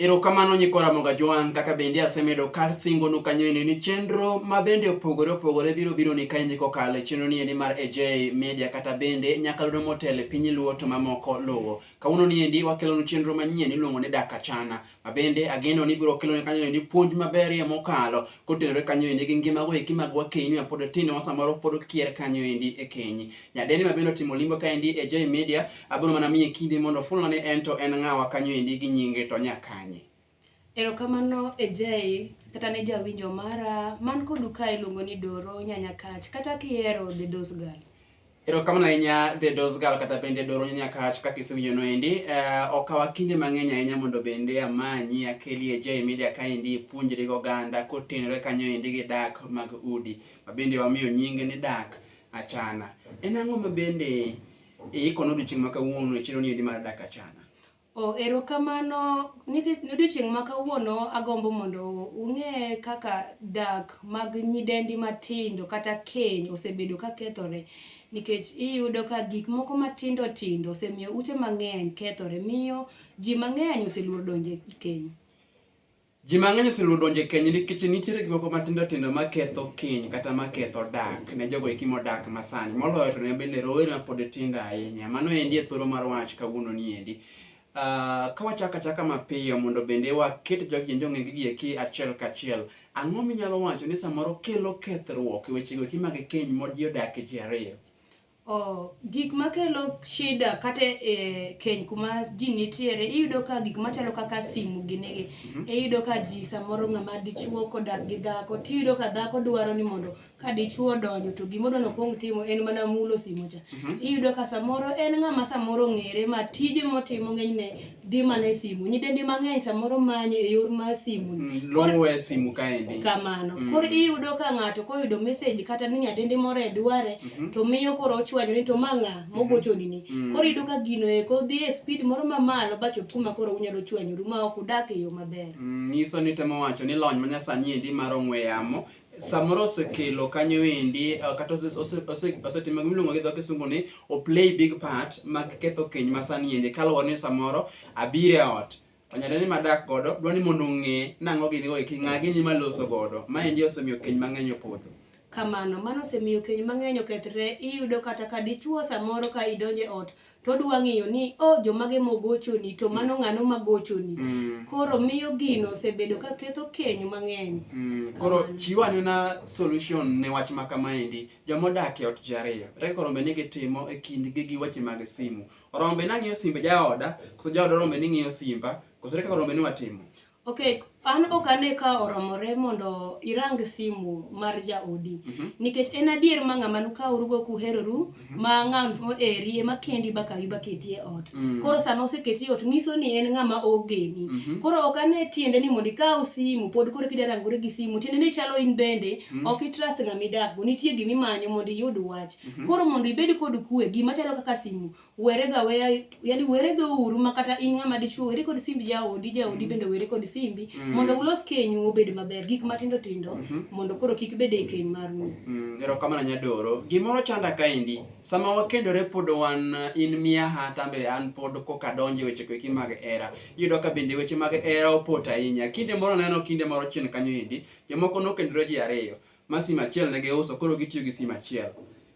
Erokamano nyikwa Ramoga Joan, kaka bende asemedo kar singonu kanyoeni ni chenro ma bende opogore opogore biro biro ni kaendi kokalo e chenro niendi mar AJ Media kata bende nyakalondo motelo e piny Luo to mamoko luwo. Kawuono niendi wakelonu chenro manyien iluongo ni Daka Chana ma bende ageno ni biro keloni kanyoeni puonj maberie mokalo kotenore kanyoeni gi ngima goeki mag wakeini mapod tindo ma samoro pod kier kanyoendi e keny. Nyadendi ma bende otimo limbo kaendi e J Media, abiro mana miye kinde mondo ofulna ni en to en ng'awa kanyo endi gi nyinge to nya kanye. Erokamano e J kata ne jawinjo mara man kodu ka iluongo ni Doro Nyanya Kach kata kihero The Dose Girl. Erokamano ahinya The Dose Girl kata bende Doro Nyanya Kach kaka isewinjo no endi. Eh, okawa kinde mang'eny ahinya mondo bende amanyi akeli e J Media kaendi ipuonjri gi oganda kotenore kanyo endi gi dak mag udi. Ma bende wamiyo nyinge ni dak. Achana. En ang'o ma bende iikono odiochieng' ma kawuono e chiro ni endi mar dak achana? Oh, erokamano nikech odiochieng' ma kawuono agombo mondo ung'e kaka dak mag nyidendi matindo kata keny osebedo ka kethore nikech iyudo ka gik moko matindo tindo osemiyo ute mang'eny kethore miyo ji mang'eny oseluor donjo e keny. Ji mang'eny oseluwo donjo e keny nikech nitiere gik moko matindo tindo maketho keny kata maketho dak ne jogo eki modak masani. Moloyo to ne bende rowere ma pod tindo ahinya. Mano endi e thoro mar wach kawuono ni endi. Uh, ka wachaka chaka mapiyo mondo bende waket jogi kendo ong'e gigi eki achiel kachiel. Ang'o minyalo wacho ni samoro kelo kethruok e wechego eki mag keny modi odak e ji ariyo? Oh, gik makelo shida kata e keny kuma ji nitiere iyudo ka gik machalo kaka simu ginigi mm -hmm. iyudo ka ji samoro ng'ama dichuo kodak gi dhako tiyudo ka dhako dwaro ni mondo ka dichuo donjo to gimoro nokwong timo en mana mulo simu cha mm -hmm. iyudo ka samoro en ng'ama samoro ng'ere ma tije motimo ng'enyne di mana e simu nyidendi mang'eny samoro manyo e yor mar simu mm, luwe simu kaendi kamano mm. koro iyudo ka ng'ato koyudo message kata ni nyadendi moro e dware mm -hmm. to miyo koro ochwanyo ni to ma ng'a mm-hmm. mogochoni ni mm -hmm. koro iyudo ka gino eko dhi e speed moro mamalo ba chop kuma koro unyalo chwanyoru ma ok udak e yo maber mm, nyiso ni temo wacho ni lony manyasani endi mar ong'we yamo samoro osekelo kanyo endi eh, kata osetimo gima iluongo gi dho kisungu ni o play big part mag ketho keny ma sani endi kaluwore ni samoro abiro e ot onyalo ni madak godo dwa ni mondo ong'e nang'o gini go eki ng'a gini maloso godo ma endi osemiyo keny mang'eny opodho kamano mano osemiyo keny mang'eny okethre iyudo kata ka dichuo samoro ka idonje ot to odwa ng'eyo ni o oh, jomage mogochoni to mano mm. ng'ano magochoni mm. koro miyo gino osebedo ka ketho keny mang'eny mm. koro chiw anena solution ne wach ma kamaendi jomodak e ot ji ariyo reka koro mbe ni gitimo e kindgi gi weche mag simu orombe nang'iyo simbe jaoda koso jaoda orombe ni ng'iyo simba koso reka koro mbe ni watimo Ok, an ok ane ka oromore mondo irang simu mar jaodi. Mhm. Nikech en adier ma ng'ama nukawrugo kuheroru Mhm. ma ng'ano eri ema kendi bakawi baketi e ot. Mm. Koro sama oseketi e ot nyiso ni en ng'ama ogeni. Mhm. Koro ok ane tiende ni mondo ikaw simu pod koro kida rangore gi simu tiende ni chalo in bende Mm. ok itrust ng'ama idakgo nitie gima imanyo mondo iyud wach. Mhm. Koro mondo ibed kod kue gima chalo kaka simu werega weya yani werega uru ma kata in ng'ama dichuo were kod simbi jaodi jaodi mm. bende were kod simbi mm. mondo ulos kenyu obed maber gik matindo tindo mm -hmm. mondo koro kik bed e keny mar mu mm. erokamano nyadoro gimoro chanda kaendi sama wakendore pod wan uh, in miaha tambe an pod koka donje weche koeki mag era iyudo ka bende weche mag era opot ahinya kinde moro neno kinde moro chien kanyo endi jomoko nokendore ji ariyo ma sim achiel ne giuso koro gitiyo gi sim achiel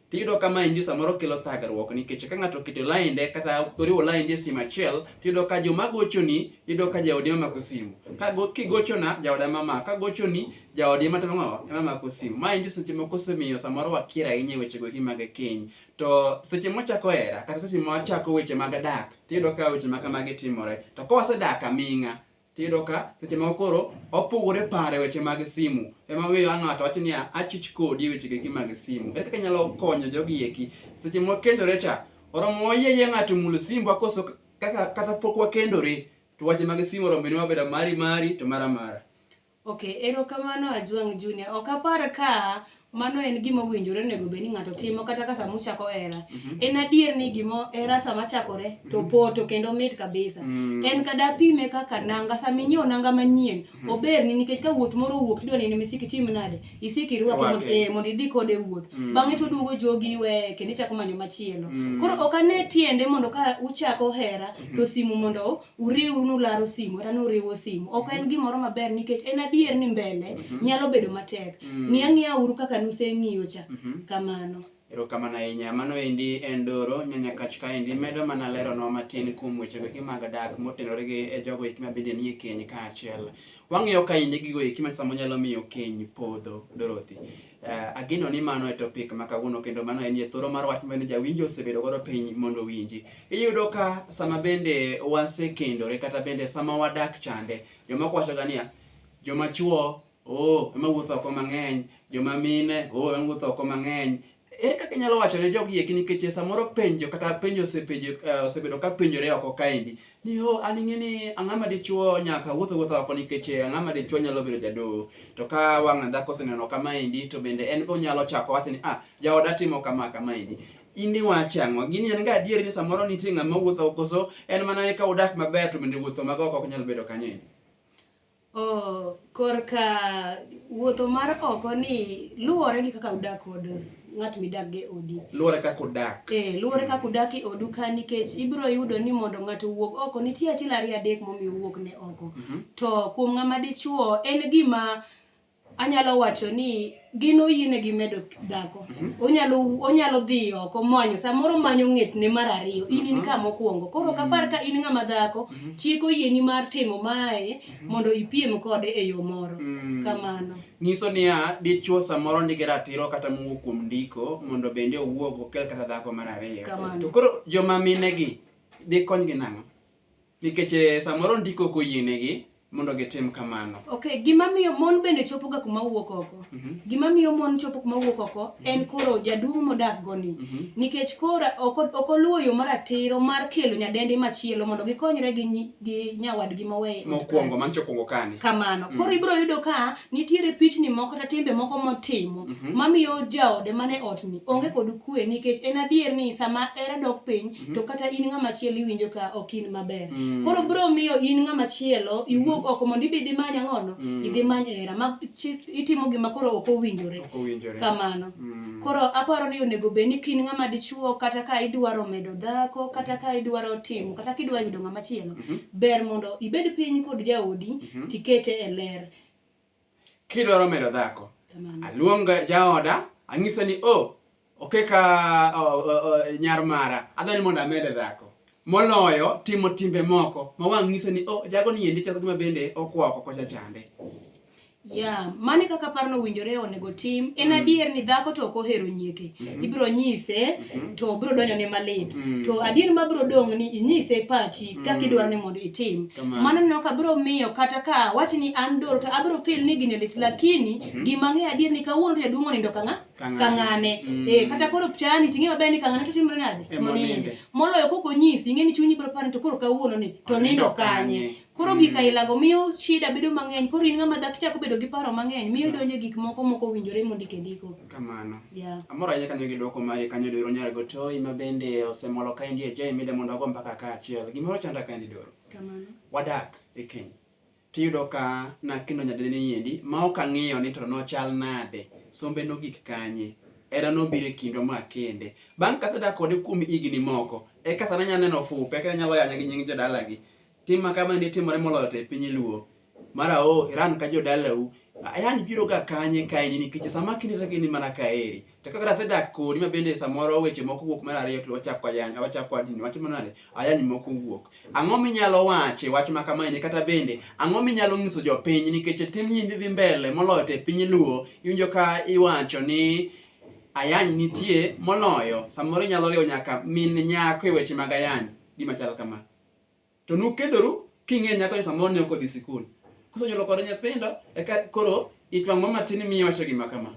Tiyudo ka maendi samoro kelo thagruok nikech ka ng'ato oketo lainde kata oriwo lainde e simu achiel, tiyudo ka joma gochoni yudo ka jaodi ema mako simu. Ka kigochona jaoda ema mako, ka gochoni jaodi ema timo ema mako simu. Maendi seche moko osemiyo samoro wakier ahinya e wechego eki mag keny. To seche mwachako hera kata seche mwachako weche mag dak, tiyudo ka weche ma kamagi timore. To ka wasedak aming'a, tiyudo ka seche moko koro opogore pare weche mag simu ema wiyo ang' ng'ato wacho niya achich kodi e weche geki mag simu ere kaka inyalo konyo jogi eki seche mwakendore cha oromo wayieyie ng'ato mul simbu akoso kaka kata pok wakendore to wache mag simu oromo bende wabedo mari mari to mara mara Okay, erokamano Ajwang' Junior. Ok apar ka mano en gima owinjore onego bed ni ng'ato timo kata ka sama uchako hera Mhm. en adier ni gimo hera sama chakore to Mhm. poto kendo mit kabisa Mm. en kada pime kaka nanga sama inyiewo nanga manyien Mhm. oberni nikech ka wuoth moro owuok tidwa ni misiki tim nade isiki irwake mondo- Rwake. eh, mondo idhi kode wuoth Mm. bang'e to oduogo jogi iweye kendo ichako manyo machielo Mm. koro ok ane tiende mondo ka uchako hera to simu mondo uriw nularo simu kata nuriwo simu ok en gimoro maber nikech en adier ni mbele Mhm. nyalo bedo matek Mm. ng'i ang'iya uru kaka nuseng'iyo cha Mhm. kamano erokamano ahinya mano endi en doro nyanya kach kaendi medo mana leronwa matin kuom wechego eki mag dak motenore gi e jogo eki ma bende nie keny kaachiel wang'iyo kaendi gigo eki ma samo nyalo miyo keny podho dorothy Uh, ageno ni mano e topic ma kawuono kendo mano en thoro mar wach mane jawinjo osebedo godo piny mondo owinji. Iyudo ka sama bende wasekendore kata bende sama wadak chande, jomoko wachoga niya, joma chuo oh, ema wuotho oko mang'eny, joma mine oh, ema wuotho oko mang'eny. Ere kaka inyalo wacho ne jogi eki nikech samoro penjo kata penjo osepenjo uh, osebedo ka penjore oko kaendi Niho an ing'e ni ang'o ma dichwo nyaka wuoth wuoth oko nikech eh, ang'o ma dichwo nyalo bedo jadoo. To ka wang' dhako oseneno kama endi to bende en be onyalo chako wacho ni ah jaoda timo kama kama endi. In iwacho ang'o? Gini en ga adier ni samoro nitie ng'ama wuotho oko so en mana ni ka udak maber to bende wuotho mag oko ok nyal bedo kanyo endi. Oh, korka wuotho mar oko ni luwore gi kaka udak kod ng'at midak gi odi. Luwore kaka udak. Eh, luwore kaka udak e odu ka nikech ibiro yudo ni mondo ng'ato owuog oko nitie achiel ariyo adek momiyo owuok ne oko. Mm -hmm. To kuom ng'ama dichuo en gima anyalo wacho ni gin oyienegi medo dhako mhm. onyalo onyalo dhi oko manyo samoro manyo ng'etne mar ariyo in in mhm. ka mokwongo koro mhm. kapar ka in ng'ama dhako chik oyieni mar timo mae mondo ipiem kode e yo moro mm. kamano nyiso niya dichwo samoro nigi ratiro kata mowuok kuom ndiko mondo bende owuog okel kata dhako mar ariyo to koro joma minegi dikonygi nang'o Nikech eh, samoro ndiko ok oyienegi mondo gitim kamano. Okay, gima miyo mon bende chopoga kuma wuok oko. Mhm. Gima miyo mon chopo kuma wuok oko en koro jaduong' modak goni. Mhm. Nikech koro ok ok oluwo yo maratiro mar kelo nyadendi machielo mondo gikonyre gi nyi- gi nyawadgi moweyo. Mokwongo mancho okwongo kani. kamano Mm. koro ibiro yudo ka nitiere pichni moko kata timbe moko motimo Mhm. mamiyo jaode mane otni onge kod kwe nikech en adier ni sama hera dok piny Mhm. to kata in ng'ama chielo iwinjo ka ok in maber Mm. koro bro miyo in ng'ama chielo iwuog oko mondo ibi idhi many ang'ono Mm. idhi many hera ma chi- itimo gima koro ok owinjore Ok owinjore. kamano Mm. koro aparo ni onego bed ni kin ng'ama dichuo kata ka idwaro medo dhako kata ka idwaro timo kata ka idwaro yudo ng'ama chielo Mhm. ber mondo ibed piny kod jaodi Mhm. tikete e ler Kidwaro medo dhako, aluong jaoda, ang'ise ni o, oh, okeka nyar mara, adwa ni mondo amede dhako. Moloyo timo timbe moko ma wang' ng'ise ni o, oh, jago ni endi chako gima bende okwa oko kocha chande. Yeah, mane kaka parno owinjore onego tim. En mm. adier ni dhako to ok ohero nyieke. Mm -hmm. Ibiro nyise mm -hmm. to biro donjo ne malit. Mm -hmm. To adier ma biro dong' ni inyise pachi kaka idwaro ni mondo itim Kamano. mano neno ka biro miyo kata ka wach ni an doro to abiro feel ni gini lit lakini gima ng'eyo adier ni kawuono to jaduong' onindo ka ng'a Kang'ane. ka ng'ane Mm. Eh, kata koro chani ting'e maber ni ka ng'ane to timre nade Ema Monindo. oninde. moloyo koko nyisi ing'e ni chunyi biro paro ni to koro kawuono ni to Onindo nindo kanye kanye. koro Mm. gik ailago miyo shida bedo mang'eny koro in ng'ama dhaki chako bedo gi paro mang'eny miyo donje gik moko moko winjore mondike ndiko kamano yeah. amoro ahinya kanyo gi dwoko mari kanyo doro nyar go to ima bende osemolo ka indie jai mide mondo ago mpaka ka achiel gimoro chanda ka ndi doro kamano wadak e keny tiyudo ka nakino nyadene yendi ma ok ang'iyo ni to nochal nade sombe nogik kanye era nobiro e kindwa ma kende bang' kasedak kode kuom higni moko eka sana nya neno fupe eka nyalo yanya gi nying jodalagi Tim makama ne timore moloyo to e piny luo. Mara o Iran ka jodalau. Ayani biro ga kanye ka ini nikech sama kinde to gini mana ka eri. To kaka rase dak kodi ma bende samoro weche moko wuok mar ariyo to wachako ayany, wachako adini, watimo nade? Ayany moko wuok. Ang'o minyalo wache wach ma kama ini kata bende ang'o minyalo nyiso jopiny nikech tim nyindi dhi mbele moloyo to e piny luo iwinjo ka iwacho ni ayany nitie moloyo samoro inyalo riwo nyaka min nyako e weche mag ayany gima chal kama. To nukedoru king'e nyako ni samoro ne ok odhi sikul. Kusenyuolo kode nyithindo eka koro itwang' mama tin miyo wacho gima kama.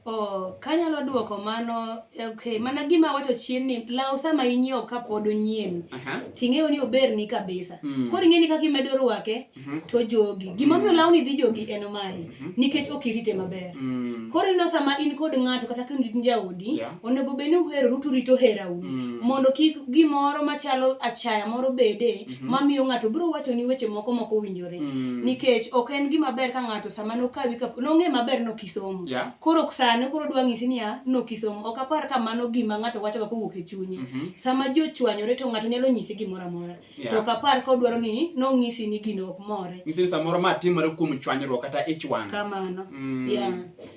Oh, kanyalo duoko mano okay mana gima wacho chien ni law sama inyiewo ka pod onyien Aha. ting'eyo ni oberni kabisa Mm. koro ing'eni kaka imedo rwake Mhm. to jogi gimomiyo lawni dhi jogi en mae Mhm. nikech ok irite maber Mm. koro ineno sama in kod ng'ato kata ka in jaodi Yeah. onego bed ni uheroru to urito herau Mm. mondo kik gimoro machalo achaya moro bede Mhm. mamiyo ng'ato biro wachoni weche moko mok owinjore Mm. nikech ok en gima ber ka ng'ato sama nokawi ka nong'e maber nokisomo Yeah. koro sani koro dwa ng'isi niya nokisomo ok apar ka mano gima ng'ato wachoga kowuok e chunye Mhm. sama ji ochwanyore to ng'ato nyalo nyisi gimoro amora Yeah. to kapar ka odwaro ni nong'isi ni gino ok more Nyisi ni samoro ma timore kuom chwanyruok kata ich wang'. kamano Mm. yeah.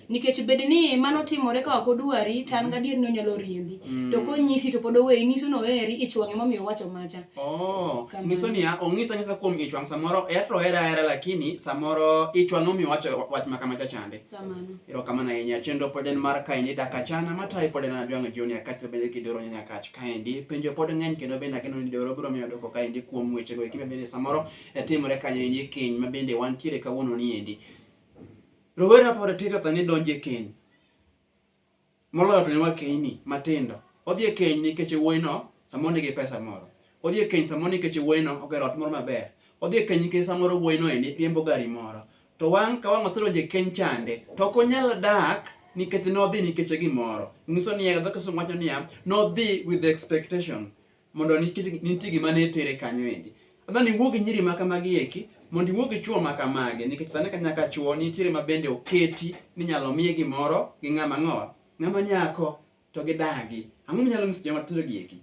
nikech bed ni mano timore ka ok odwari to an gadier ni onyalo riembi Mm. to konyisi to pod oweyi nyiso ni oheri ich wang'e momiyo owacho macha Oh, Kamano. nyiso niya, ong'isa ng'isa kuom ich wang' samoro er to hera hera lakini samoro ich wang' omiyo wacho wach ma kama chachande. kamano Erokamano ahinya. Chenro pod en mar kae ni dakachana matayi pod en Adwang' Junior kaachiel bende kidoro nyanya kacha. kaendi. Penjo pod ng'eny kendo bende ageno ni Deoro biro miyo dwoko kaendi kuom wechego eki mabende samoro eh, timore kanyo endi e keny mabende wantiere kawuono ni endi. Rowere mapod tindo sani donjo e keny. Moloyo to ne wakeyni matindo. Odhi e keny nikech wuoyino samoro nigi pesa moro. Odhi e keny samoro nikech wuoyino ogero ot moro maber. Odhi e keny nikech samoro wuoyino endi riembo gari moro. To wan ka wang' osedonjo e keny chande, to ok onyal dak nikech nodhi nikech gimoro. Nyiso ni dho Kisungu wacho niya, nodhi with the expectation mondo nikech nitie gima ne tere kanyo endi. Adwa ni iwuo gi nyiri ma kamagi eki mondo iwuo gi chwo ma kamagi nikech sani ka nyaka chwo nitiere ma bende oketi ni nyalo miye gimoro gi ng'ama ng'owa ng'ama nyako to gidagi. Ang'o minyalo nyiso joma tindo gi eki?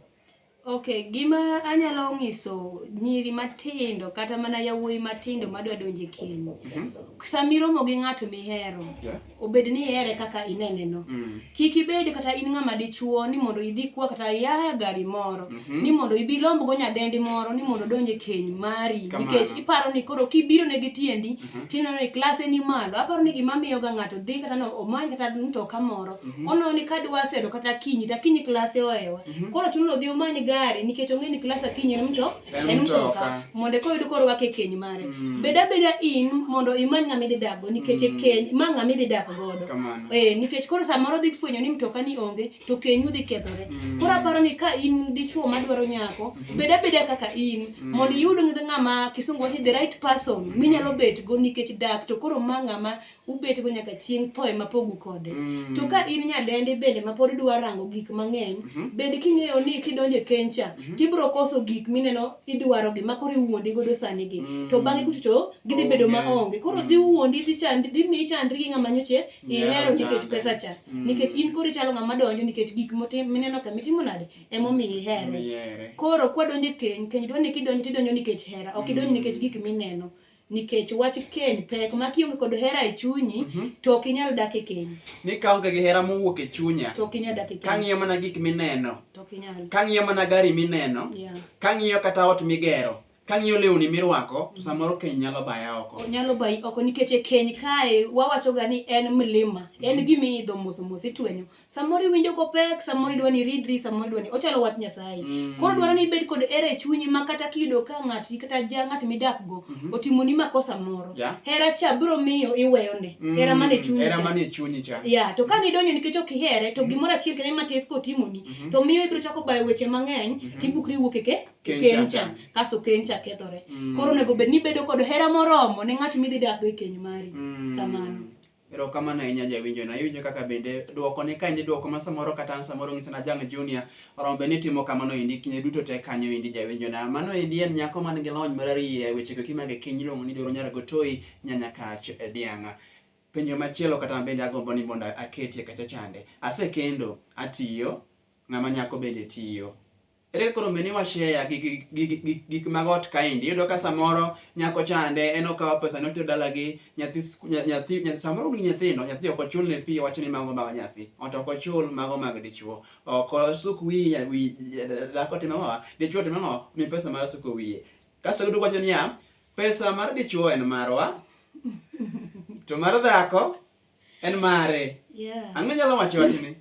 Ok, gima anyalo nyiso nyiri matindo kata mana yawuoyi matindo madwa donje keny. Mm -hmm. Sami romo gi ng'ato mihero, yeah. obed ni ihere kaka inene no. Mm. Kik ibed kata in ng'ama dichuo ni mondo idhi kwa kata yaya gari moro, mm -hmm. ni mondo ibi lombo go nyadendi moro ni mondo donje keny mari. Nikech iparo ni koro kibiro ne gi tiendi, Mhm. tineno ni klase ni malo aparo ni gima miyoga ng'ato dhi kata no omany kata mtoka moro Mhm. oneno ni kadwa sedo kata kinyi ta kinyi klase oewa Mhm. koro chuno ni odhi omany gari nikech ong'e ni klase kinyi en mto En en mtoka. mtoka mondo eka oyud koro wake keny mare Mm. bed abeda in mondo imany ng'ama idhi dakgo nikech e Mm. keny ma ng'ama idhi dak godo Kamano. Eh, nikech koro samoro dhi fwenyo ni mtoka ni onge to kenyu dhi kethore mm. koro aparo ni ka in dichuo madwaro nyako mm. bed abeda kaka in mm. mondo iyud ng'ama kisungu wacho the right person mm. minyalo bet go nikech dak to koro ma ng'ama ubet go nyaka chieng' thoe mapogu kode mm. to ka in nyadendi bende ma pod idwa rango gik mang'eny mm -hmm. bende king'eyo ni kidonjo e kencha mm -hmm. tibro koso gik mineno idwaro gi makoro iwuondi godo sani gi mm. to bang'e kuchocho gidhi bedo maonge koro dhi wuondi dhi chandri dhi miyi chandri gi ng'ama nyoche ihero nikech pesa cha mm. nikech in koro ichalo ng'ama donjo nikech gik mineno ka mitimo nade emomiyo ihere koro kwadonjo e keny keny dwa ni kidonjo tidonjo nikech hera ok idonjo mm. nikech gik mineno nikech wach keny pek ma kionge kod hera e chunyi mm -hmm. to ok inyal dak e keny ni kaonge gi hera mowuok e chunya to ok inyal dak e keny kang'iyo mana gik mineno to ok inyal kang'iyo mana gari mineno yeah. kang'iyo kata ot migero Kang'iyo lewni mirwako to samoro keny nyalo baya oko. Onyalo bayi oko nikech e keny kae wawachoga ni en mlima, en gima iidho mos mos itwenyo. Samoro iwinjo kopek, samoro idwa ni iridri, samoro idwa ni ochalo wach Nyasaye. Mm. Koro dwaro ni ibed kod hera e chunyi ma kata kiyudo ka ng'ati kata ja ng'at midakgo Mhm. otimoni makosa moro. Yeah. Hera cha biro miyo iweyone. Mm, Hera man e chunyi. Hera cha. man e chunyi cha. ya to ka nidonjo nikech ok ihere to gimoro achiel kende matis kotimoni Mhm. to miyo ibiro chako bayo weche mang'eny Mhm. tibukri wuok eke kencha kasto kencha kethore mm. koro onego bed ni bedo kod hera moromo ne ng'at midhi dakgo e keny mari mm. kamano erokamano ahinya jawinjo na iwinjo kaka bende dwoko ni ka endi dwoko ma samoro kata an samoro ng'iso na jang junior oromo bende nitimo kamano endi kinde duto te kanyo endi jawinjo na mano endi en nyako man gi lony marariye wechego kimage kiny iluongo ni doro nyara gotoi nyanya kach e dianga penjo machielo kata bende agombo ni mondo aketie kacha chande asekendo atiyo ng'ama nyako bende tiyo Ere koro meni wa share gi gi- gi- gi- gi- gik mag ot kaendi. Iyudo ka samoro nyako chande en okawo pesa ne otero dalagi, nyathi sku- nya- nyathi nya- samoro un gi nyithindo, nyathi ok ochul ne fee wacho ni mago mag nyathi. Ot ok ochul mago mag dichwo. Ok osuk wiye wi dhako timo ang'owa, dichwo timo ang'owa, mi pesa mar suko wiye. Kasto giduogo wacho niya, pesa mar dichwo en marwa, to mar dhako en mare. Yeah. Ang'o nyalo wacho wachni?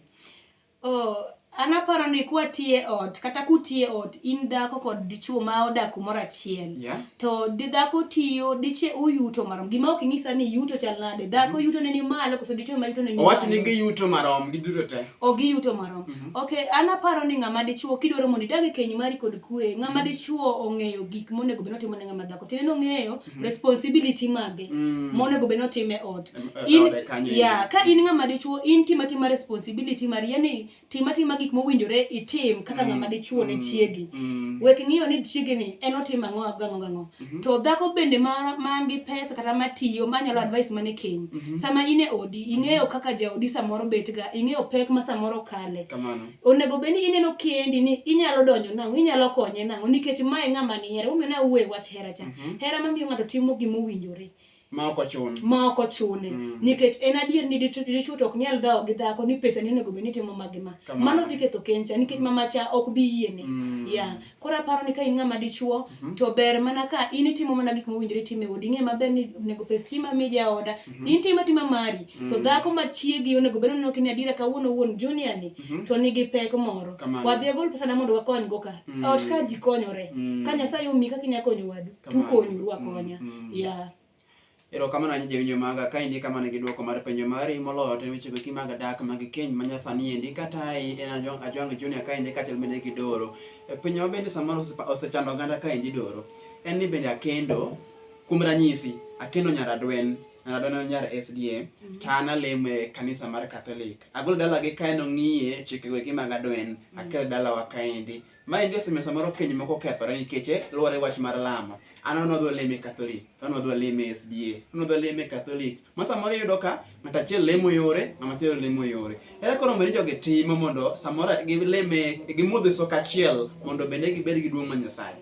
Oh, an aparo ni kwatiye ot kata kutiye ot in dhako kod dichuo ma odak kumoro achiel yeah. to di dhako tiyo diche uyuto marom gima ok inyisa ni yuto chal nade dhako mm -hmm. yuto ne ni malo koso dichuo ma yuto ne ni owacho ni giyuto marom giduto te o giyuto marom mm -hmm. okay an aparo ni ng'ama dichuo kidwaro mondo idag e keny mari kod kwe ng'ama mm -hmm. dichuo ong'eyo gik monego bed notimo ne ng'ama dhako tiende nong'eyo Mm. responsibility mage mm. monego bed notime e ot yeah, ka in ng'ama dichuo in tima tima responsibility mari yani tima tima gik mowinjore itim kaka ng'ama mm. dichuo ne mm. chiegi mm. wek ng'iyo ni chiegi ni en otim ang'o gang'o gang'o mm -hmm. to dhako bende man ma gi pesa kata matiyo manyalo advice mane keny mm -hmm. sama in e odi ing'eyo mm-hmm. kaka jaodi samoro betga ing'eyo pek ma samoro kale Kamano. onego bed ni ineno kendi ni inyalo donjo nang'o inyalo konye nang'o nikech mae ng'ama ni hera umena uwe wach hera cha Mhm. hera mamiyo ng'ato timo gima owinjore ma ok ochun ma ok ochune Mm. nikech en adier ni dichu- dichwo to ok nyal dhawo gi dhako ni pesa ni onego bed ni timo magi ma Kamano. mano dhi ketho kencha nikech mama cha ok bi yiene Mm. ya Koro aparo ni ka in ng'ama dichuo Mhm. to ber mana ka in itimo mana gik mowinjore tim e odi. Ing'e maber ni onego pes stima mi jaoda. Mhm. In tim atima mari. To Mhm. dhako ma chiegi onego bed ni kini adiera kawuono wuon junior ni Mhm. to nigi pek moro. Kamano. Wadhi agol pesa na mondo wakony go ka. Mhm. Ot ka ji konyore. Mm. Ka Nyasaye omi kaka inya konyo wadu, Kamano. tukonyuru akonya. Mm, mm. Yeah. Erokamano ahinya jawinjo maga ka indi kamano gi dwoko mar penjo mari moloyo to weche goki mag dak mag keny ma nyasani endi kata ai en ajwang' ajwang' junior ka endi kaachiel bende gi doro E, penjo ma bende samoro osepa- osechando oganda ka endi doro en ni bende akendo kuom ranyisi akendo nyar adwen nyar adwen en nyar sda to an alemo e kanisa mar catholic agolo dalagi kaen ong'iye chikego eki mag adwen akelo dalawa kaendi Ma en joseme samoro keny moko kethore nikech eh, luwore wach mar lamo. An an odwa leme Catholic, an odwa leme SDA, an odwa leme Catholic. Ma samoro iyudo ka ng'ato achiel lemo yore, ng'ama chielo lemo yore. Ere koro mondo jogi timo mondo samoro gileme gimodhe sok achiel mondo bende gibed gi duong' ma Nyasaye.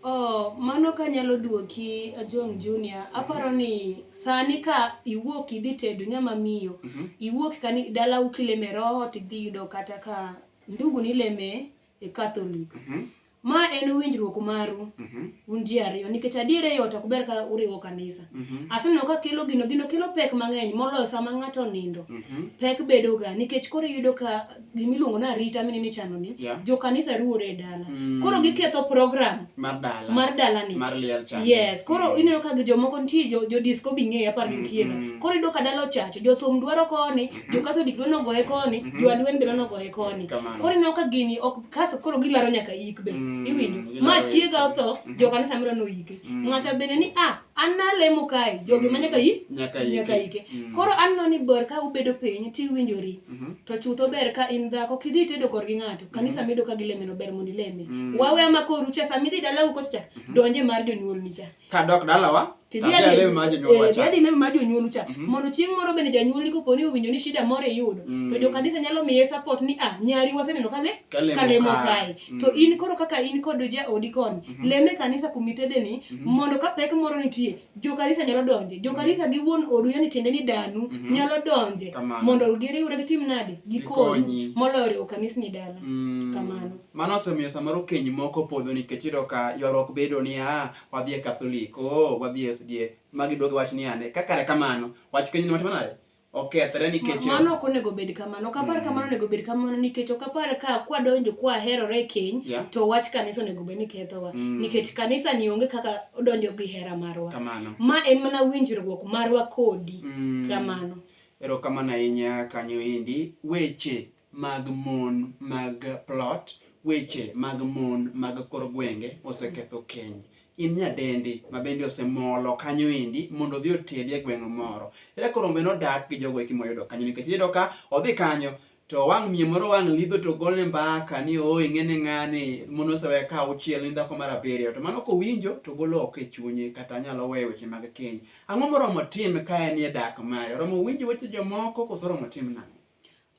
Oh, mano ka nyalo duoki Ajong Junior, aparo ni sani ka iwuok idhi tedo nyama miyo, Mhm. iwuok kani dala ukileme roho tidhi yudo kata ka ndugu ni leme e Catholic. Mm -hmm. Ma en winjruok maru mm -hmm. un ji ariyo nikech adiere yot ok ber ka uriwo kanisa. Mm -hmm. Aseneno ka kelo gino gino kelo pek mang'eny moloyo sama ng'ato nindo. Mm -hmm. Pek bedoga nikech koro iyudo ka gima iluongo ni arita mine michano ni yeah. jo kanisa ruwore e dala. Mm -hmm. Koro giketho program mar dala mar dala ni. Mar liel chan. Yes, koro mm -hmm. ineno ka jomoko nitie jo, jo disco bing'eyo apar mm -hmm. Koro iyudo ka dala ochacho, jo thum dwaro koni, jokatholik dwa nogoye koni Mhm. jolweny be dwa nogoye koni Kamano. koro ineno ka gini ok kaso koro gilaro nyaka yik be Mm, iwinjo gilaro ma yik. chiega otho Mhm. jokanisa mero noyike Mm. ng'ato bende ni a an nalemo kae jogi ma nyaka yik Nyaka yike. nyaka yike Mm. koro aneno ni ber ka ubedo piny tiwinjori Mhm. to chutho ber ka in dhako kidhi tedo korgi ng'ato kanisa medo ka gilemeno ber mondo ileme Mm. wawe ama koru cha sama idhi dalau kocha cha donje mar jonyuolni cha kadok dalawa adhi neno ma jonyuolu cha mhm. mondo chieng' moro bende janyuolni kopo ni owinjo ni shida moro iyudo to mm. jokanisa nyalo miye support ni ah nyari waseneno kane kalemo kae mm. to in koro kaka in kod jaodi koni mhm. leme kanisa kumitedeni mhm. mondo ka pek moro nitie jokanisa nyalo donje jokanisa gi wuon odu yani tiende ni danu nyalo donje mondo giriwre gitim nade gikonyi moloyo riwo kanisni dala mm. kamano Mano osemiyo samoro keny moko podho nikech iyudo ka ywaruok bedo ni ah, wadhi e Katholik, oh, wadhi e SDA, ma giduogi wach ni ande. Ka kare kamano, wach keny ni watimo nade? Okethre nikech Ma- mano ok onego bed kamano ok apar Mm. kamano onego bed kamano nikech ok apar ka kwadonjo kwaherore e keny Yeah. to wach kanisa onego bed ni kethowa Mm. nikech kanisa ni onge kaka odonjo gi hera marwa kamano. ma en mana winjruok marwa kodi Mm. kamano Erokamano ahinya kanyo endi. Weche mag mon mag plot, weche mag mon mag kor gwenge oseketho keny. In nyadendi ma bende osemolo kanyo endi mondo odhi otedi e gweng' moro. Ere koro ombe nodak gi jogo eki moyudo kanyo nikech iyudo ka odhi kanyo to wang' miyo moro wang' lidho to golne mbaka ni oo ing'ene ng'ani mon osewe ka auchiel ni dhako mar abiriyo to mano kowinjo to golo oko e chunye kata nyalo weyo weche mag keny. Ang'o moromo tim ka en e dak mare? Oromo winjo weche jomoko kose oromo tim nang'o?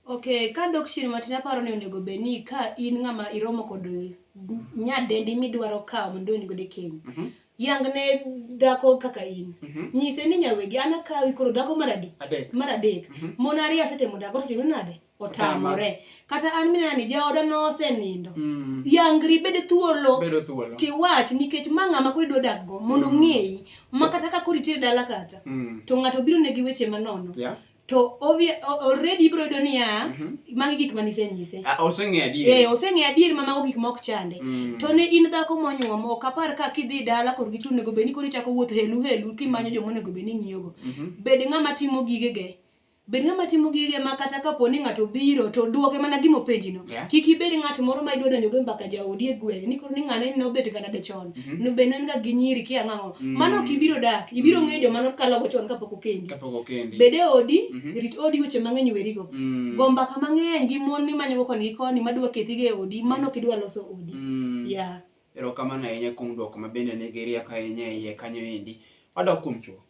Okay, ka dok chien matin aparo ni onego bed ni ka in ng'ama iromo kod nyadendi midwaro kawo mondo idonj godo e keny. Mm -hmm. Yang ne dhako kaka in. Mm -hmm. Nyise ni nyawegi an akawi koro dhako mar adek. Adek. Mar adek. Mm -hmm. Mon ariyo asetemo dhako to timo nade? Otamore. Kata an minena ni jaoda nosenindo. Mm -hmm. Yangri bed thuolo. Bedo thuolo. Tiwach nikech ma ng'ama koro idwa dak go mondo mm -hmm. ng'eyi ma kata ka koro itere dala kata. Mm -hmm. To ng'ato biro ne gi weche manono. Yeah. to obvious already ibro yudo niya mm -hmm. magi gik ma nisenyise ah, oseng'e adier eh oseng'e adier ma mago gik ma ok chande mm. to ne in dhako monyuom ok apar ka kidhi dala kor gichung nego beni kori chako wuotho helu helu kimanyo joma onego beni ng'iyogo mm -hmm. bed ng'ama timo gigege bed ng'ama timo gige ma kata kapo ni ng'ato biro to duoke mana gima openjino yeah. kik ibed ng'at moro ma idwa donjo go mbaka jaodi e gweng' ni koro ni ng'ane ni nobet ga nade chon Mhm. no be ne en ga gi nyiri kia ng'ang'o Mm. mano ok ibiro dak ibiro Mm. ng'eyo joma nokalogo chon kapok okendi Kapok okendi. bed e odi Mhm. rit odi weche mang'eny werigo Mm. go mbaka mang'eny gi mon mimanyogo koni gi koni madwa kethigo e odi mano ok idwa loso odi Mm. yeah. Erokamano ahinya kuom dwoko ma bende nigi rieko ahinya e iye kanyo endi. Wadok kuom chuo.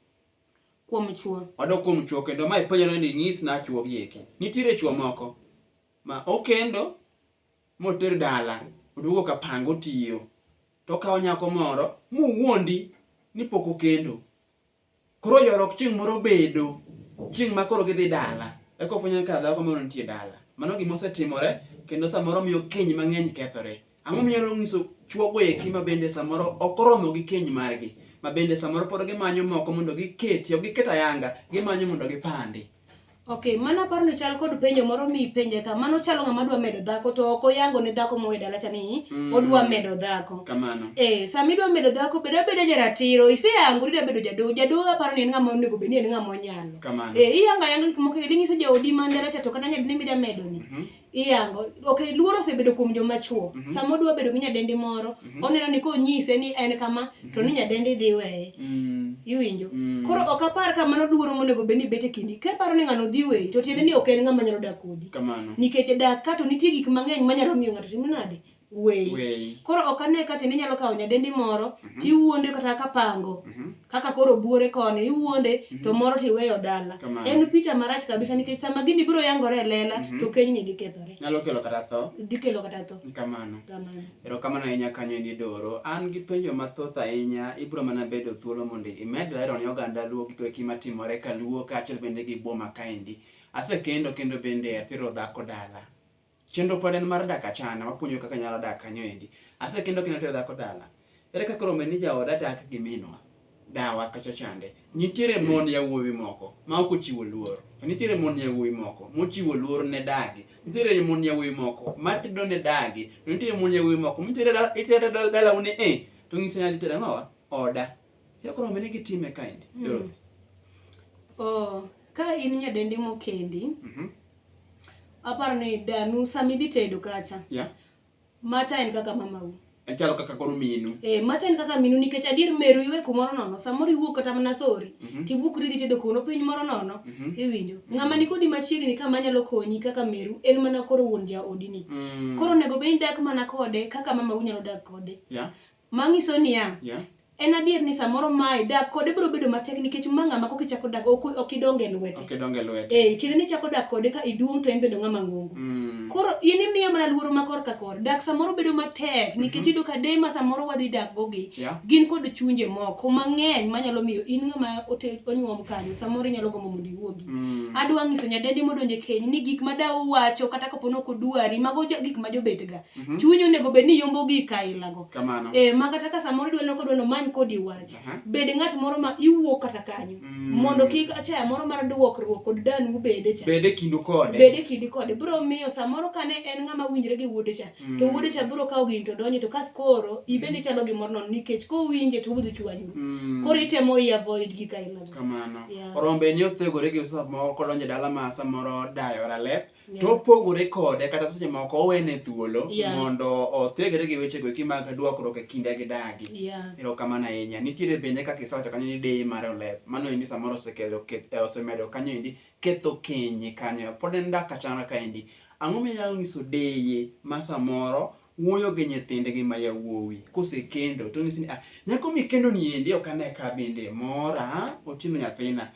kuom chuo Wadok kuom chuo kendo ma ipenjore ni nyis na chuo gi eki. Nitiere chuo moko ma okendo moter dala oduogo ka pango tiyo to okawo nyako moro muwuondi ni pok okendo koro yorok chieng' moro bedo chieng' ma koro gidhi dala eka ofwenyo ka dhako moro nitie dala mano gima osetimore kendo samoro miyo keny mang'eny kethore ang'o minyalo nyiso chuogo eki ma bende samoro ok oromo gi keny margi ma bende samoro pod gimanyo moko mondo giketi ok giket ayanga gimanyo mondo gipandi Okay, mana paro ni chal kod penjo moro mi penje ka mano chalo ng'ama dwa medo dhako to ok oyango ne dhako mowe dala cha ni mm. odwa medo dhako. Kamano. Eh, sama idwa medo dhako bedo abedo jaratiro, iseyango idwa bedo jado, jado aparo ni en ng'ama onego bed ni en ng'ama onyalo. Kamano. Eh, iyanga yanga gik moko ni nyiso jaodi man dala cha to kata nyadi ne midwa medo ni. Mm -hmm. iyango ok luoro osebedo kuom joma chuo mm -hmm. sama odwa bedo gi nyadendi moro mm -hmm. oneno ni konyise ni en kama mm -hmm. to ni mhm. nyadendi dhi weye mm -hmm. iwinjo mm -hmm. koro ok apar ka mano luoro monego bed ni bete kindi ka paro ni ng'ano dhi weyi to tiende ni ok en ng'ama nyalo dak kodi nikech dak ka to nitie gik mang'eny manyalo miyo ng'ato timo nade weyi Weyi. koro ok ane ka tiende inyalo kawo nyadendi moro Mhm. tiwuonde kata kapango Mhm. kaka koro buore koni iwuonde to moro tiweyo dala Kamano. en picha marach kabisa nikech sama gini biro yangore e lela Mhm. to keny ni gikethore Nyalo kelo kata tho. dhi kelo kata tho Kamano. kamano Erokamano ahinya kanyo ni Doro. An gi penjo mathoth ahinya, ibiro mana bedo thuolo mondo imed lero ne oganda Luo gigo eki matimore ka Luo kaachiel bende gi boma kaendi. Asekendo kendo bende atero dhako dala. Chenro pod en mar dak achana, wapuonjo kaka nyalo dak kanyo endi. Asekendo kendo tero dhako dala. Ere kaka rombe ni jaoda dak gi minwa? Dawa kacha chande. Nitiere mon yawuowi moko ma ok ochiwo luor. Nitiere mon yawuowi moko mochiwo luor ne dagi. Nitiere mon yawuowi moko ma tedo ne dagi. To nitiere mon yawuowi moko mitere dala itere dala dala une eh to ng'ise ni adhi tere ang'owa oda. Ere kaka rombe ni gitime kaendi? Mm. Oh, ka in nyadendi mokendi, Mhm. Aparo ni danu sami dhi tedo kacha. Yeah. Macha en kaka mamau. Achalo kaka koro minu. Eh, macha en kaka minu nikech adier meru iwe kumoro nono. Samoro iwuok kata mana sori. Mm -hmm. Tibukri dhi tedo kuno piny moro nono. Mm -hmm. Iwinjo. Mm -hmm. Ng'ama ni kodi machiegni kama nyalo konyi kaka meru en mana koro wuon jaodi ni. Mm -hmm. Koro nego beni dak mana kode kaka mamau nyalo dak kode. Yeah. Ma nyiso niya, Yeah. en adier ni samoro mae dak kode biro bedo matek nikech ma ng'ama kok ichako dak ok ok idonge lwete. Ok idonge lwete. Eh, tiende ni ichako dak kode ka iduong' to en bedo ng'ama ng'ongo. Mm. Koro in imiya mana luoro ma korka kor. Dak samoro bedo matek nikech iyudo ka deye ma samoro wadhi dak gogi Yeah. gin kod chunje moko mang'eny manyalo miyo in ng'ama ote- onyuom kanyo samoro inyalo gombo mondo iwuogi. Mm. adwa nyiso nyadendi modonje keny ni gik ma daw wacho kata kapo ni ok odwari mago jo- gik ma jobetga Mm -hmm. Chunyi onego bed ni yombo gi kaila go. Kamano. Eh ma kata ka samoro dweno ko dweno man kodi wach. Uh -huh. Bed ng'at moro ma iwuo kata kanyo. Mm -hmm. Mondo kik achaya moro mar duokruok kod dan u bede cha. Bede kindu kode. Bede kindu kode. Bro miyo samoro kane en ng'ama winjre gi wuode cha. Mm -hmm. To wuode cha bro kawo gin to donjo to kas koro ibende chalo gi moro non nikech ko winje to wudu chwanyu. Mm -hmm. Koro itemo i avoid gi kaila go. Kamano. Yeah. Orombe ni othegore gi sa moko donjo dala ma samoro dayo ralep. Yeah. to opogore kode kata seche moko owene thuolo yeah. mondo othegre gi weche goeki mag duokruok e kinda gi dagi yeah. erokamano ahinya nitiere bende kaka isewacho kanyo ni deyi mar olep mano endi samoro osekelo eh, osemedo kanyo endi ketho kenye kanyo pod en dak kachana kaendi ang'o minyalo nyiso deye ma samoro wuoyo gi nyithindgi ma yawuowi kosekendo to nyisi ni ah, nyako mikendo ni endi ok ane ka bende mora oting'o nyathina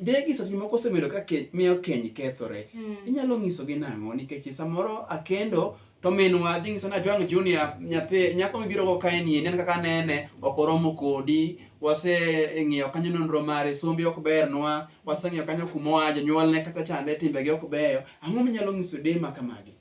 degi seche moko osebedo ka miyo keny kethore hmm. inyalo nyisogi nang'o nikech samoro akendo to minwa dhi nyiso ni ajwang' junior nyathi nyako mibiro go kae ni nen kaka nene ok oromo kodi waseng'iyo kanyo nonro mare sombi ok bernwa waseng'iyo kanyo kumoa jonyuolne kata chande timbegi ok beyo ang'o minyalo nyiso dema kamagi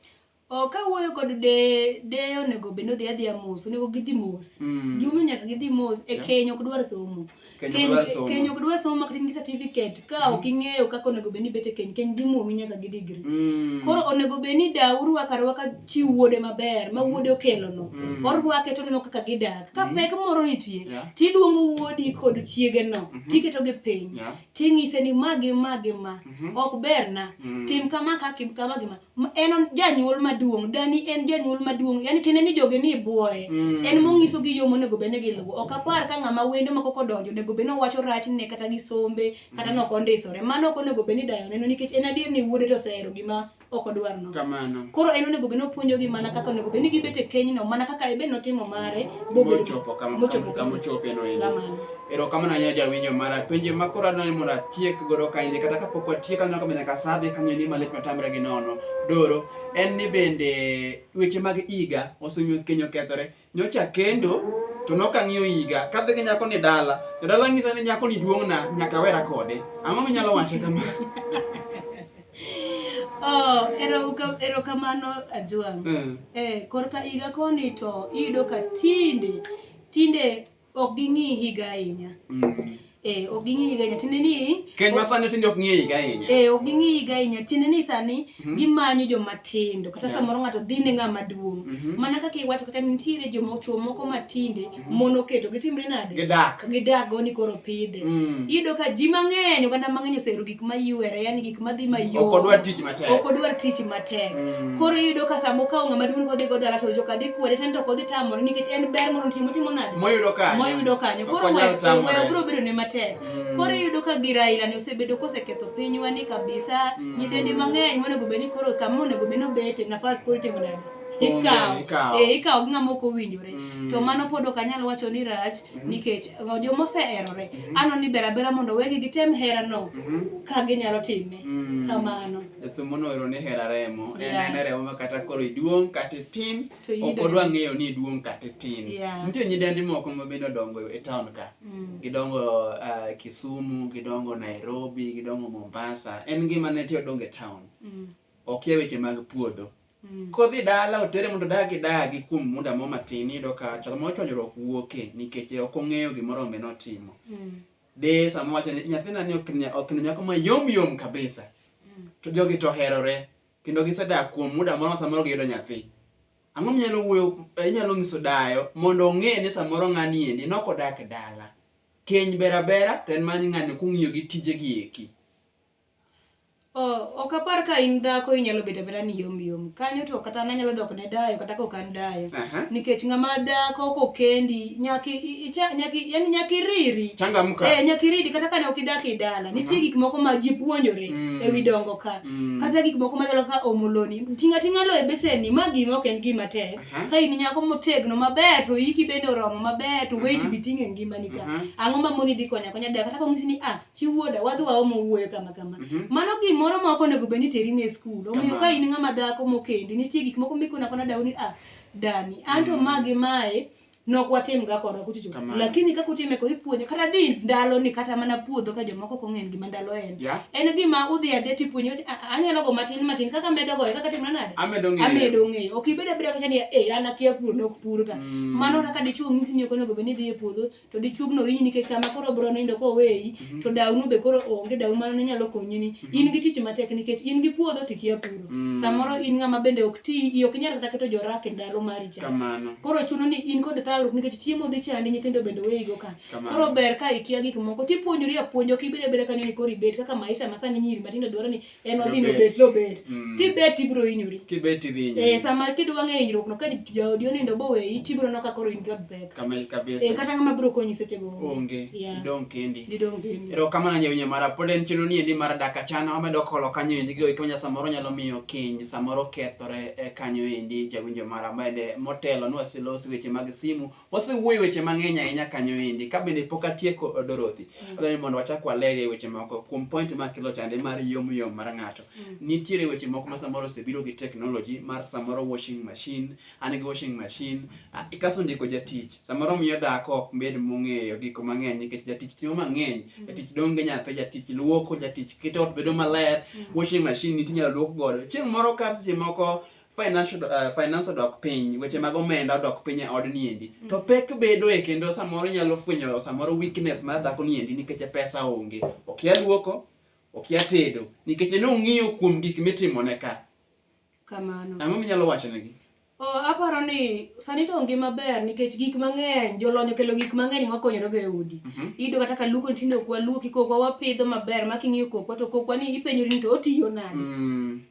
Oh, ka wuoyo kod de de onego bed ni odhi adhiya mos onego gidhi mos Mm. gimomiyo nyaka gidhi mos e Yeah. keny ok dwar somo Keny ok dwar somo. keny ok dwar somo mak in gi certificate ka ok ing'eyo kaka onego bed ni bet e keny keny dhi mwomi nyaka gi degree Mm. koro onego bed ni da urwaka rwaka chi wuode maber ma wuode okelono Mm. orwake to oneno kaka gidak ka Mm. pek moro nitie Yeah. tiluongo wuodi kod chiegeno Mhm. tiketogi piny Yeah. ting'ise ni ma gi ma gi ma Mhm. ok berna Mm. tim kama ka kim kama gi ma M- en on- janyuol maduong' dani en janyuol maduong' yani tiende ni joge ni ibuoye Mm. en mong'iso gi yo monego bed ni giluwo ok apar ka ng'ama wendo ma koko donjo onego bed ni owacho rachne kata gi sombe kata nok ondisore mano ok onego bed ni dayo neno nikech en adier ni wuode to osehero gima ok odwar no kamano koro en onego bed ni opuonjogi mana kaka onego bed ni gibet e kenyno mana kaka ebe notimo mare bobedo mochopo kama- Mochopo kama kama. ochopeno endo Kamano. Erokamano ahinya jawinjo mara. Penjo ma koro adwaro ni mondo atiek godo kaendi kata kapok watiek aneno ka bende nyaka sa dhi kanyo ni malit matamre gi nono. Doro en ni bende weche mag higa osemiyo keny okethore. Nyocha kendo to nok ang'iyo higa kadhi gi nyako ni dala to dala ng'isa ni nyako ni duong'na nyaka awera kode. Ang'o minyalo wacho kama? Oh, eroka- erokamano Ajwang'. Mm. Eh, korka higa koni to iyudo ka tinde tinde ok ging'i higa ahinya mm. eh ok ging'i higa ahinya tiende ni keny ma sani tinde ok ng'i higa ahinya eh ok ging'i higa ahinya tiende ni sani mhm. gimanyo joma tindo kata samoro ng'ato dhi ne ng'ama duong' mhm. mana kaka iwacho kata nitiere joma chwo moko ma tinde mhm. mon oketo gitimre nade gidak gidak go ni koro pidhe mm. iyudo ka ji mang'eny oganda mang'eny oseru gik ma yuere yani gik ma dhi mayom ok odwar tich matek ok odwar tich matek mm. koro iyudo ka sama okawo ng'ama duong' kodhi go dala to joka dhi kwede tento kodhi tamore nikech en ber mondo timo timo nade moyudo kanyo moyudo kanyo koro we we bro bedo ne matek mm. koro iyudo ka gira ila ne osebedo koseketho pinywa ni kabisa mm. nyidendi mang'eny monego bed ni koro kama onego bed ni obete nafas koro timo nade ikawo eh, ikawo gi ng'ama ok owinjore mm. to mano pod ok anyal wacho ni rach mm. nikech joma oseherore mm-hmm. ano ni ber abera mondo wegi gitem herano mm-hmm. ka ginyalo time mm. kamano thumbo noero ni hera remo en en remo ma kata koro iduong' kata itin ok odwa ng'eyo ni iduong' kata itin nitie nyidendi moko ma bende odongo e taon ka mm. gidongo eh, kisumu gidongo nairobi gidongo mombasa en ngima ne ti odongo e taon mm. okia weche mag puodho Mm. Kodhi dala otere mondo dagi dagi kuom muda mo matin iyudo ka sama ochwanyruok wuoke nikech ok ong'eyo gimoro ombe notimo. Mm. De sama wacho ni nyathina ni ok ne ok ne nyako ma yom yom kabisa. Mm. To jogi to herore kendo gisedak kuom muda moro samoro giyudo nyathi. Ang'o minyalo wuoyo eh, inyalo nyiso dayo mondo ong'e ni samoro ng'ani endi nok odak dala. Keny bera bera to en mana ni ng'ani kung'iyo gi tije gi eki. Oh, ok apar ka in dhako inyalo bedo abeda ni yom yom kanyo to kata an anyalo dok ne dayo kata kok an dayo Aha. nikech ng'ama dhako kokendi nyaki i- icha- nyaki yani nyaki riri Changamka. eh nyaki riri kata kane ok idak e dala nitie gik moko ma ji puonjore Mm. ewi dongo ka Mm. kata gik moko machalo ka omoloni tinga tinga lo e besenni ma gima ok en gima tek Aha. ka in nyako motegno maber to iki bende oromo maber to weight Aha. biting' e ngimani ka Aha. ang'o ma moni dhi konya konya dayo kata kong'isi ni ah chi wuoda wadhi waomo wuoyo kama kama Mhm. mano gimoro ma ok onego bed ni teri ne skul omiyo ka Kamano. in ng'ama dhako mokendi nitie gik moko mikona kona dawo ni ah dani anto Mm. magi mae nok watim ga korwa kuchocho Kamano. lakini kaka utime ko ipuonjo kata dhi ndalo ni kata mana puodho ka jomoko ok ong'en gima ndalo en ya en gima udhi adhi tipuonjo ti- "Ah, ah, anyalo go matin matin kaka medo goyo kaka timna nade amedo ng'eyo amedo ng'eyo ok ibed abeda kacha ni e an akia pur nok pur ka Mm. mano kaka dichwo ng'isi ni ok onego bed ni idhi e puodho to dichuogno winyi nikech sama koro bro nindo koweyi mm -hmm. to dawnu be koro onge dawu mano nyalo konyi ni mm -hmm. in gi tich matek nikech in gi puodho to ikia puro mm -hmm. samoro in ng'ama bende ok ti ok inyal kata keto jorak e ndalo mari cha koro chuno ni in kod thagruok nikech chiemo dhi chandi nyithindo bende weyi go ka koro ber ka ikia gik moko tipuonjori apuonjo kibede bede kanyo ni koro ibet kaka maisha masani nyiri matindo dwaro ni en odhi nobet nobet mm. kibet ibiro hinyori kibet idhi hinyori eh sama kidwa ng'e hinyruok no ka jaodi onindo boweyi tibiro no kakoro in god back kamel kabisa eh kata ng'ama biro konyi seche go onge yeah. dong kendi didong kendi ero kama na nyawinyo mara pod en chino ni endi mar daka chana wamedo kolo kanyo endi go ikanya samoro nyalo miyo kiny samoro kethore e kanyo endi jawinjo mara mende motelo nwa silos weche mag simu Wasewuoyo weche mang'eny ahinya kanyo endi, ka bende pok atieko eh, Dorothy. Mm. Adwaro ni mondo wachak walerie weche moko kuom point ma kelo chande mar yom yom mar ng'ato. Mm. Nitiere weche moko ma samoro osebiro gi technology mar samoro washing machine, an gi washing machine, ah, ikaso ndiko jatich. Samoro miyo dhako ok bed mong'eyo gik mang'eny nikech jatich timo mang'eny, mm. jatich donge nyathi, jatich luoko, jatich keto ot bedo maler, washing machine nitie inyalo luok godo. Chieng' moro ka seche moko financial uh, finance odok piny weche mag omenda odok piny e odni endi mm. to pek bedo e kendo samoro inyalo fwenyo samoro weakness mar dhako ni endi nikech pesa onge okia luoko okia tedo nikech ne ong'iyo kuom gik mitimo ne ka kamano ang'o minyalo wacho negi Oh, aparo ni sani to ngima ber nikech gik mang'eny jolony okelo gik mang'eny mwakonyorego e udi mm -hmm. iyudo kata ka luoko nitindo ok waluoki kokwa wapidho maber making'iyo kokwa to kokwa ni ipenjori ni to otiyo nade mm.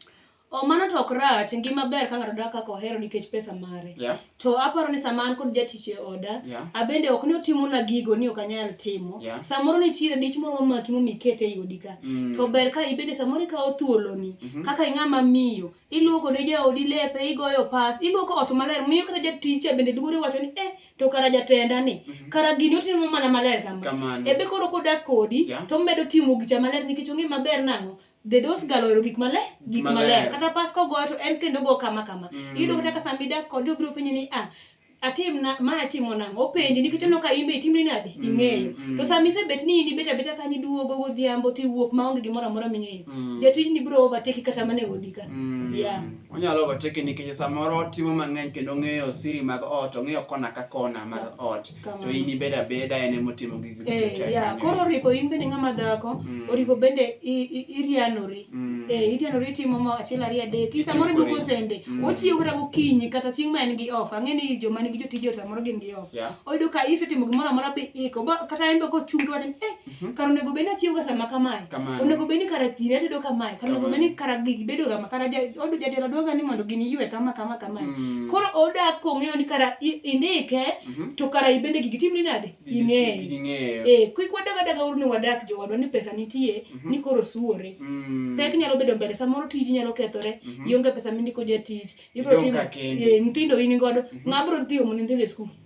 Oh, mano to ok rach ngima ber ka ng'ato dak kaka ohero nikech pesa mare yeah. to aparo ni sama an kod jatich e oda yeah. abende ok ni otimona gigo ni ok anyal timo yeah. samoro nitiere dich moro mamaki momikete e odi ka mm. to ber ka ibende samoro ikawo thuoloni mm -hmm. kaka ing'ama miyo iluoko ne jaodi lepe igoyo pas iluoko ot maler miyo kata jatich bende duore wacho ni eh to kara jatenda ni mm -hmm. kara gini otimo mana maler kama ebe koro kodak kodi yeah. to medo timo gicha maler nikech ong'e maber nang'o the dose galo ero gik male gik male kata pas ko go to en kendo go kama kama mm. ido kata kasa mida ko do bro penyo ni ah atim na ma atimo na o penyo ni kiteno ka imbe itim ni nade mm, ingeyo mm. to sa mi se bet ni ni beta beta ka ni duo go go diambo ti wuok ma onge gimora mora mi ngeyo mm. je ti ni bro over take kata mane odi ka mm. yeah onyalo over take ni kije samoro timo mangeny kendo ngeyo siri mag ot ongeyo kona ka kona mag ot to in ibed abeda en ema otimo gigi duto eh, te yeah. koro oripo in bende ng'ama dhako mm. oripo bende irianori mm. eh, irianori itimo ma achiel ariyo adek i samoro ibo kosende mm. ochiew kata gokinyi kata chieng' ma en gi off ang'e ni joma nigi jotije samoro gin gi off yeah. oyudo ka isetimo gimoro amora bi iko kata en be kochung' to wacho ni eh Mhm. kar onego bed ni achiewoga sama kamae Kamano. onego bed ni kara thire atedo kamae kar onego bed ni kara gigi bedo kama kara ja- od- jatelo dwaga ni mondo gini ywe kama kama kamae Mm. koro odak kong'eyo ni kara i- indike Mhm. to kara ibende gigi timni nade Gigi- ing'eyo gigi ing'eyo. Eh, kik wadagadaga uru ni wadak jowadwa ni pesa nitie Mhm. ni koro suore Mm. pek nyalo bedo mbele samoro tiji nyalo kethore Mhm. ionge pesa mindiko jatich Idong' ka kendi. nyithindo in godo Mhm. ng'a bro dhi omo ni nyithindo e skul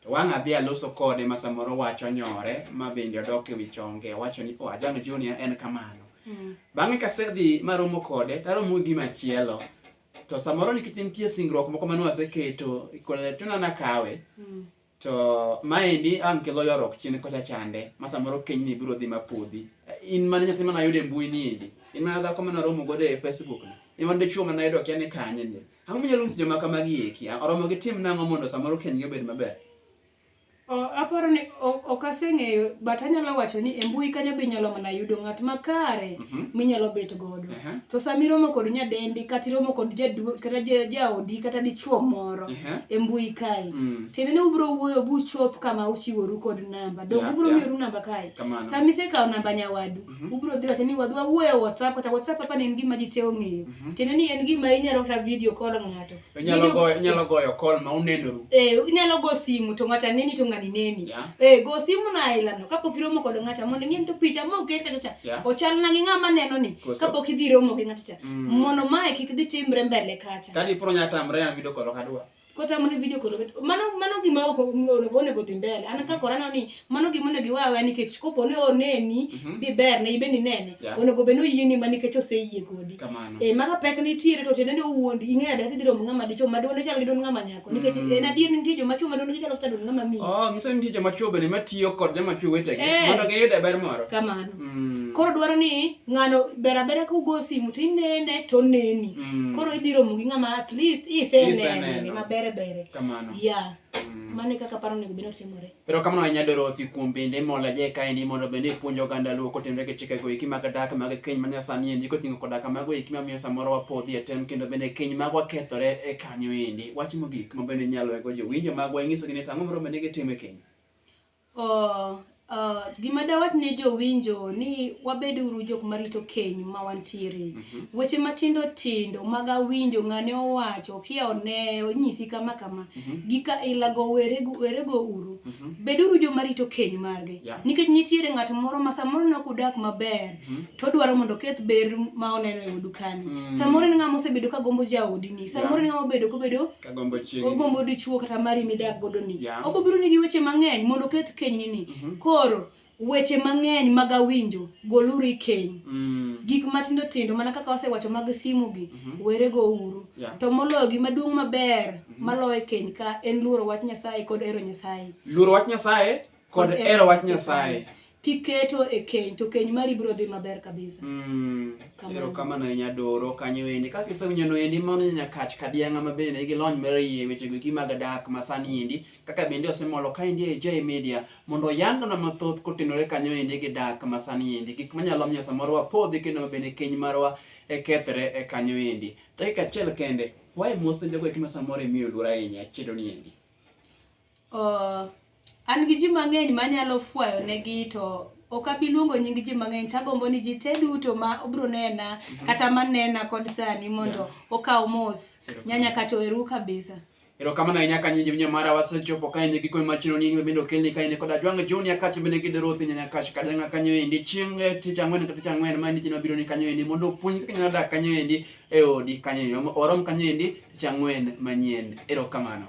to wang' adhi aloso kode ma samoro wacho nyore ma bende odok e wi chonge wacho ni o oh, ajano junior en kamano mm. bang'e kasedhi maromo kode taromo gi machielo to samoro nikech nitie singruok moko mane waseketo koletona nakawe mm. to maendi ang' kelo yorok chien kocha chande ma samoro keny ni biro dhi mapodhi in mana nyathi mana yudo e mbui ni endi in mana dhako mana romo godo e facebook ni in mana dichuo mana yudo kia ni kanye ni Ang'o minyalo nyiso joma kamagi eki? Oromo gi tim nang'o mondo samoro kenygi obed maber? aparo ni ok aseng'eyo but anyalo wacho ni e mbui kanyo be inyalo mana yudo ng'at makare mhm. minyalo bet godo to sama iromo kod nyadendi kata iromo kod kata jaodi kata dichuo moro e mbui kae mm. tiende ni ubiro wuoyo buchop kama uchiworu kod namba dok ubiro miyoru namba kae sama isekawo namba nyawadu Mhm. Ubiro dhi wacho ni wadwa wuoyo e WhatsApp kata WhatsApp kaka ne en gima ji te ong'eyo. Mhm. Tiende ni en gima inyalo kata video call ng'ato. Inyalo Video- goyo inyalo goyo call ma unenoru. Eh, inyalo go simu to ng'ato aneni to ng'ani neni. Yeah. Eh, go simu na ailano kapok iromo kod ng'ata mondo ing'e to picha ma oket kacha cha. Yeah. Ochal na gi ng'ama neno ni Koso. kapok idhi romo gi ng'ata cha. Mm. Mondo mae kik dhi timre mbele kacha. Kadi pro nya tamre an video call kadwa. kota mano video kolo mano mano gima ok onego onego dhi mbele an ka korano ni mano gima onego iwawe nikech kopo ne oneni mhm. bi ber ne ibe ni nene onego be no yie ni mani kecho se yie godi e eh, maka pek ni tiere to tene ne uwondi inge ada ki diro ngama dicho ma dole chal gidon ngama nyako mhm. nikech en eh, adier ni tijo ma chuma dole chal kadon ngama mi oh ngisa ni tijo ma chuma be ma tiyo kod jama chuma wete gi eh. mondo ge yude ber moro kamano mm. koro dwaro ni ng'ano ber abera kugo simu to inene to neni mm. koro idhi romo gi ng'ama at least isenene ma bere bere kamano ya yeah. mm. mane kaka paro nego bino timore pero kamano anya doro othi kuom bende mola je ka ni mondo bende puonjo ganda luo kotenre ke chike go iki mag dak mag keny manya sani endi kotingo koda kama go iki mamiyo samoro wapodhi e tem kendo bende keny mag wakethore e kanyo endi wach mogik ma bende nyalo ego jowinjo mag wanyiso gi ni tango moro bende gitime keny Uh, uh, gima dawach ne jowinjo ni wabed uru jok marito keny ma wantiere mm -hmm. weche matindo tindo mag awinjo ng'ane owacho kia one onyisi kama kama mm -hmm. gika ilago werego, werego uru mm -hmm. bed uru joma rito keny margi yeah. nikech nitiere ng'at moro ma samoro ne ok udak maber mm -hmm. to odwaro mondo oketh ber ma oneno e odukani mm -hmm. samoro en ng'ama osebedo ka gombo jaodini samoro yeah. en ng'ama obedo kobedo Kagombo chieng. Ogombo dichuo kata mari midak godo ni. Yeah. Obo biro nigi weche mang'eny mondo keth keny ni ni. Mm -hmm. Koro weche mang'eny mag awinjo goluru i keny. Mm. Gik matindo tindo mana kaka wasewacho mag simu gi mm -hmm. were go uru. Yeah. To moloyo gima duong' maber mm -hmm. maloyo keny ka en luoro wach Nyasaye kod ero Nyasaye. Luoro wach Nyasaye kod hero wach Nyasaye. Kiketo e keny to keny mari biro dhi maber kabisa. Mm. Kamano. Ero kamano e nyadoro kanyo endi. Kaka isewinjo no endi mano nyakach kadianga ma bende nigi lony mar yie weche go gi mag dak ma sani endi. Kaka bende osemolo ka endi e J Media mondo yangona mathoth kotenore kanyo endi gi dak ma sani endi. Gik manyalo miyo samoro wapodhi kendo ma bende keny marwa e kethre e kanyo endi. Dakika achiel kende. Wae mos ne jogo eki ma samoro imiyo luor ahinya chiedo ni endi. Uh, an gi ji mang'eny manyalo fwayo negi to ok abi luongo nying ji mang'eny tagombo ni ji te duto ma obro nena mhm. kata manena kod sani mondo okaw mos nyanya kato eru kabisa ero kamano ahinya ka nyinyi minya mara wasechopo ka ine gikone machino ni bende okelni ka ine koda jwang' joni akache bende gide rothi nyanya kache kata nga kanyo endi chieng' eh, tich ang'wen kata tich ang'wen ma ni chino biro ni kanyo endi mondo opuonj kaka nyalo dak kanyo endi e odi kanyo endi orom kanyo endi Chang'wen manyien. Erokamano.